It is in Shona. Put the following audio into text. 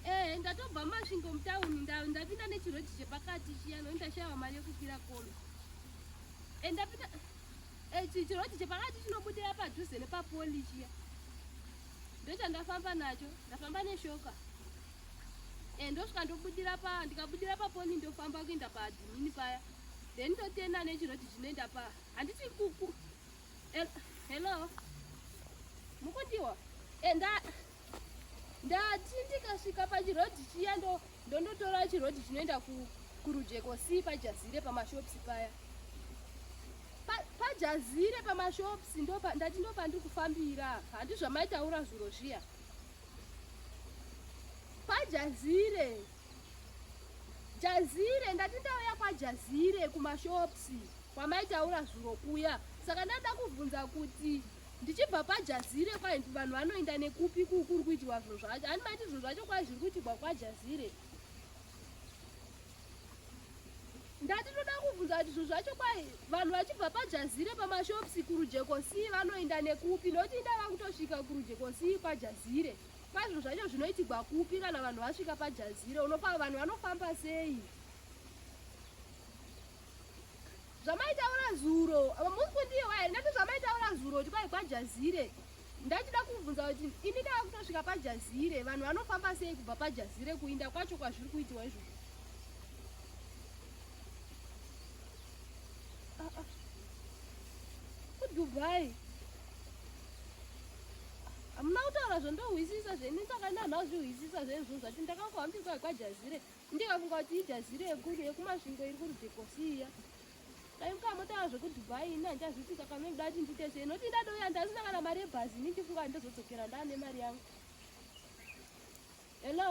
Eh, ndatobva masvingo mutauni ndau ndapinda nechiroji chepakati chiya no ndashaiwa mari yekukwira kombi. Eh, ndapinda eh, chiroji chepakati chinobudira padhuze nepapoli chiya. Ndochandafamba nacho, ndafamba neshoka. Eh, ndosvika ndobudira pa ndikabudira papoli ndofamba kuenda paadhimini paya. Then ndotenda nechiroji chinoenda pa handiti kuku. Eh, hello. Mukundiwa. Eh, nda ndati ndikasvika pachirodhi chiya ndondotora chirodhi chinoenda kurujeko si pajazire pamashopsi paya pajazire pamashops ndati ndopandiri kufambira handi zvamaitaura zviro zviya pajazire jazire ndati ndauya kwajazire kumashops kwamaitaura zviro kuya saka ndada kubvunza kuti ndichibva kwajazire kwai vanhu vanoenda nekupi kukuri kuitirwa zviro zvacho ani maiti zviro zvacho kwai zviri kuitirwa kwajazire ndati toda kubvunza kuti zviro zvacho kwai vanhu vachibva pajazire pamashopsi kurujekosii vanoenda nekupi nokuti inda vakutosvika kurujekosii kwajazire kwai zviro zvacho zvinoitigwa kupi kana vanhu vasvika pajazire unofa vanhu vanofamba sei zvamaitaura zuro apa musi kundiwa here ndati zvamaitaura zuro kuti kwai kwajazire ndachida kubvunza kuti ini ndava kutosvika pajazire vanhu vanofamba sei kubva pajazire kuinda kwacho kwazviri kuitiwa izvo ah, ah. kudubai hamuna kutaura zvondohwisisa zveni ndakanaanhao zvihwisisa zvenizvozvati ndakakuhambisa kwajazire ah, ndikafunga kuti ijaziro yekuru yekumasvingo iri kurudhekosiya dai mukamotaura zvekudubai ini handichazvitika kana ndoda kuti ndiite sei noti ndadouya ndazina kana mari yebhazi ini ndifunga kuti ndozodzokera ndaane mari yangu hello